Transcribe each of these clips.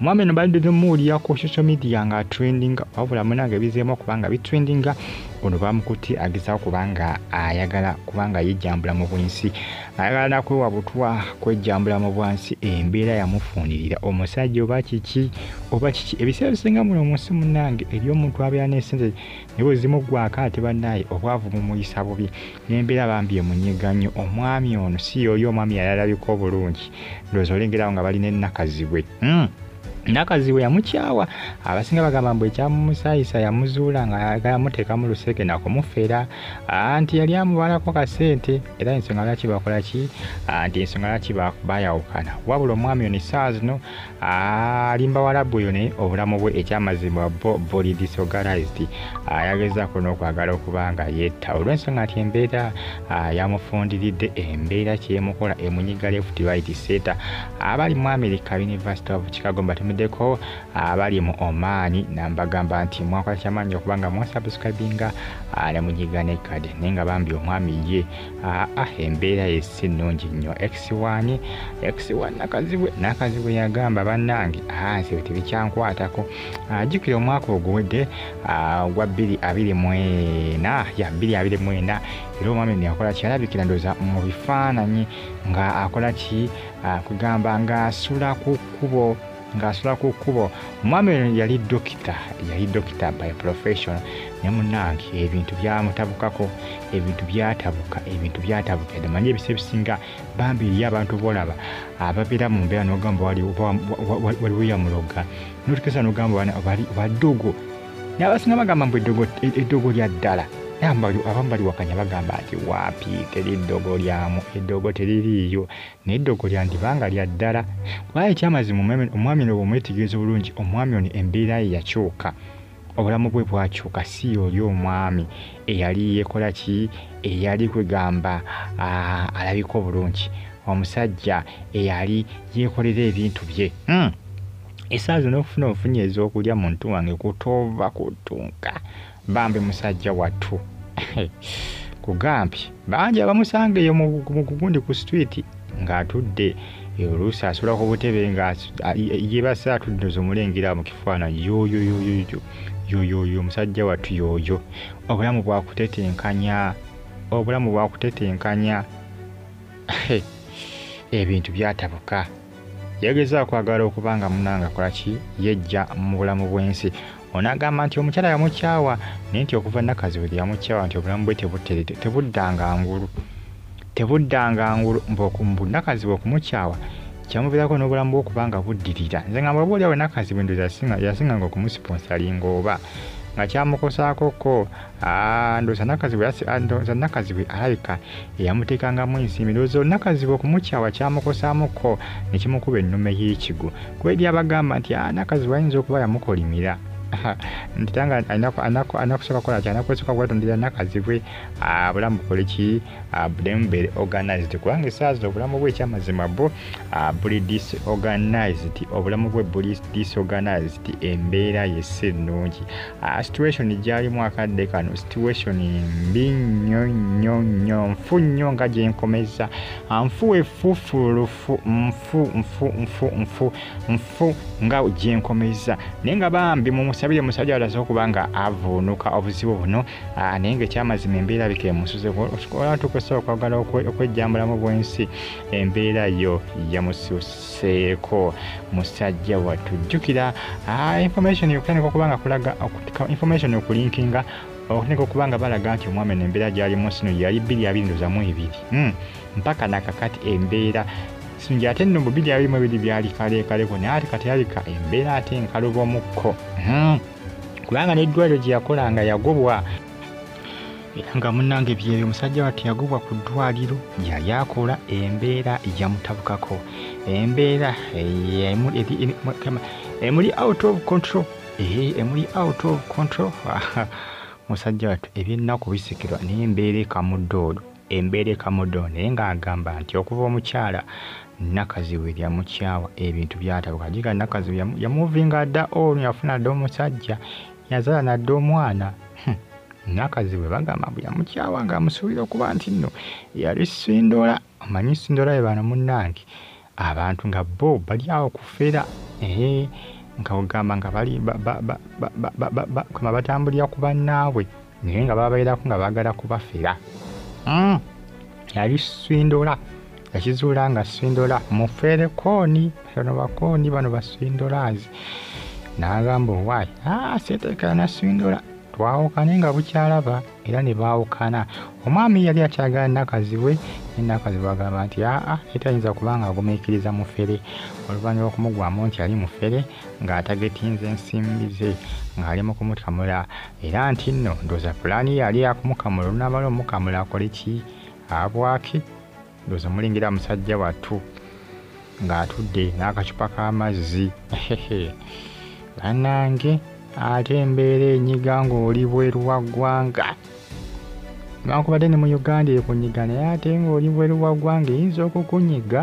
omwami eno badde temuwulira ku social media nga trendinga wabula munange bizeemu okubanga bitrendinga ono bamukutte agezawo kubanga ayagala kubanga yejjambula mu bwensi ayagala nakwewa butwa kwejjambula mu bwansi embeera yamufunirira omusajja oba kiki oba kiki ebiseera bisinga muno munsi munange eri omuntu abeera nesente niwe zimugwako ate banaye obwavu mumuyisa bubi Nembera bambi emunyiga nyo omwami ono si yoyo omwami yali alabika obulungi ndowooza olengerawo nga balina enakazibwe hmm. nakazibwe yamukyawa abasinga bagamba mbu ekyamumusayisa yamuzuula nga ayagala muteeka mu luseke nakumufera anti yali amubalako kasente era ensonga lwaki bakola ki anti ensonga lwaki bayawukana wabula omwami ono esaawa zino alimba walabu oyo naye obulamu bwe ekyamazima bo buli disorganized ayagezaako n'okwagala okuba nga yetta olw'ensonga nti embeera yamufundiridde embeera kyemukola emunyiga left right seta abali mu america university of chicago mbatumiddeko abali mu omaani nambagamba nti mwakola kyamaanyi okuba nga mwasubscribinga ne munyiga nekade naye nga bambi omwami ye aa embeera ye si nnungi nnyo x1 x1 nakazibwe nakazibwe yagamba bannange nze bwe tebikyankwatako ajjukira omwaka oguwedde ogwa 224 ya 224 era omwami no yakola kyalabikira ndoza mu bifaananyi nga akola ki kugamba ng'asula ku kkubo ng'asula ku kkubo omwami oyo yali dokita yali dokita by profession ne munange ebintu byamutabukako ebintu byatabuka ebintu byatabuka yadde manyi ebisa ebisinga bambi eriyo abantu bolaba ababeera mu mbeera nogamba waliwo yamuloga notukesa nogamba badogo nabasinga bagamba mbu eddogo lya ddala abamu baliwakanya bagamba nti waapi teri ddogo lyamu eddogo teririiyo N'eddogo lyandiba nga lya ddala. Kubanga eky'amazima omwami, omwami ono bw'omwetegereza obulungi, omwami ono embeera ye yakyuka. Obulamu bwe bwakyuka. Si y'oli omwami eyali yeekola ki? Eyali kwegamba, aa, alabika obulungi. Omusajja eyali yeekolera ebintu bye. Hmm! Essaawa zino ofuna ofunye ez'okulya, muntu wange, kutoova kuttunka. Bambi musajja wattu kugambye bangi abamusanga eyo mugundi ku street ng'atudde oluusi asula ku butebe nga yebasa atudde ozomulengera mu kifaananyi yoyoyoyoyo yoyoyo omusajja wattu yoyo obulamu bwakutetenkanya obulamu bwakutetenkanya ebintu byatabuka yageza akwagala okuba nga munanga akolaki yejja mu bulamu bw'ensi ono agamba nti omukyala yamukyawa naye nti okuva nakazibuzi yamukyawa nti obulamu bwe tebuddanga ngulu tebuddanga ngulu mbunakazibwe okumukyawa kyamuvirako n'obulamu bwokuba nga buddirira nze nga mwabaoli awo nakazibu ndoza yasinganga okumusiponsalinga oba nga kyamukosaako ko Ah, ndoza nakazibwe asi ah, ndoza nakazibwe alabika eyamuteekangamu ensimbi ndowooza olunakazibwe okumukyawa kyamukosaamukko ne kimukuba ennume y'ekigo kweri abagamba nti ah, nakazibwe ayinza okuba yamukolimira nti tanga anakusooka kola ki anakusooka kwetondera nakazibwe ah, bulamu bukole ki ah, bulemu beere organized kubanga esaawa zino obulamu bwe ekyamazima bo ah, buli disorganized obulamu bwe buli disorganized embeera yesi ennungi Ah, situation gyalimu akadde kano situation mbi nnyo nnyo nnyo nfu nnyo nga gyenkomeza ah, nfu efufulufu nfu nfu nfu nfu nfu nga gyenkomeza naye nga bambi mumusabire musajja alaze okuba nga avuunuka obuzibu buno ah, naye nga ekyamazima embeera bika emusuzeola tukusa okwagala okwejjambulamu bwensi embeera yo yamususa seeko musajja wattu jjukira ah, information okutandika okuba nga kulaga information okulinkinga okutandika okuba nga balaga nti omwami no embeera gyalimu sino yali bbiri abiri ndozamu ebiri hmm, mpaka nakakati embeera sinja ate nno bubiri abirimu ebiri byali kaleekaleko naye ate kati yalika embeera ate nkaluba omukko hmm, kubanga n'eddwaliro gye yakolanga yagobwa era nga munange byeyo omusajja watu yagobwa ku ddwaliro yali akola embeera yamutabukako embeera emuli out of control emuli out of control musajja watu ebyennaku bisikirwa naye embeera ekamuddoolo embeera ekamuddoolo naye ng'agamba nti okuva omukyala nakaziwe yamukyawa ebintu byatabuka jiga nakaziwe yamuvinga dda ono yafuna dda omusajja yazala nadde omwana hmm. nakazi bwe bagamba mbu yamukyawa nga amusuubira okuba nti nno yali sindola omanyi sindola ye bano munnange abantu nga bo bali awo kufera ee nga ogamba nga bali kama batambulira ku bannaabwe naye nga babairako nga bagala kubafera mm. yali swindola yakizuula nga swindola mufere kooni bano bakooni bano baswindolazi n'agamba owaayi ah, seteekera naswindola twawukane nga bukyalaba era ne baawukana omwami yali akyagala nakaziwe nenakaziwe agamba nti aa etayinza kuba nga agumiikiriza mufere oluvannyuma okumugwamu nti yali mufere ng'atagetinze ensimbi ze ng'ali mu kumukamula era nti nno ndooza pulaani ye yali yakumukamula olunaamala omukamula akole ki abwaki ndooza omulengera musajja wattu ng'atudde n'akacupa k'amazzi banange ate embeera enyiga ng'oli bweru wa ggwanga newankubadde ne mu uganda ekunyiga naye ate ng'oli bweru wa ggwanga eyinza okukunyiga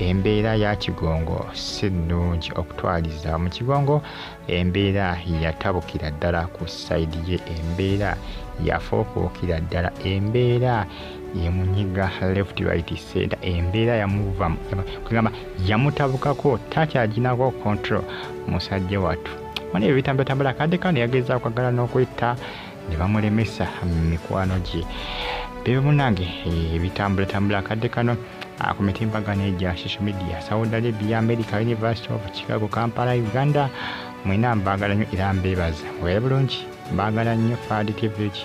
Embeera ya Kigongo si nnungi okutwaliza mu Kigongo embeera yatabukira ddala ku sayidi ye embeera yafuukuukira ddala embeera yemunyiga left right center embeera yamuvamu kugamba yamutabukako takyaginako control musajja wattu mwana ebyo bitambulatambula kadde kano yagezaako agala n'okwetta ne bamulemesa mikwano gye bebe munange ebitambulatambula eh, akadde kano ah, ku mitimbagano egya social media saudi arabia america university of chicago kampala uganda mwena mbaagala nnyo era mbeebaza weera bulungi mbaagala nnyo faadi tv ki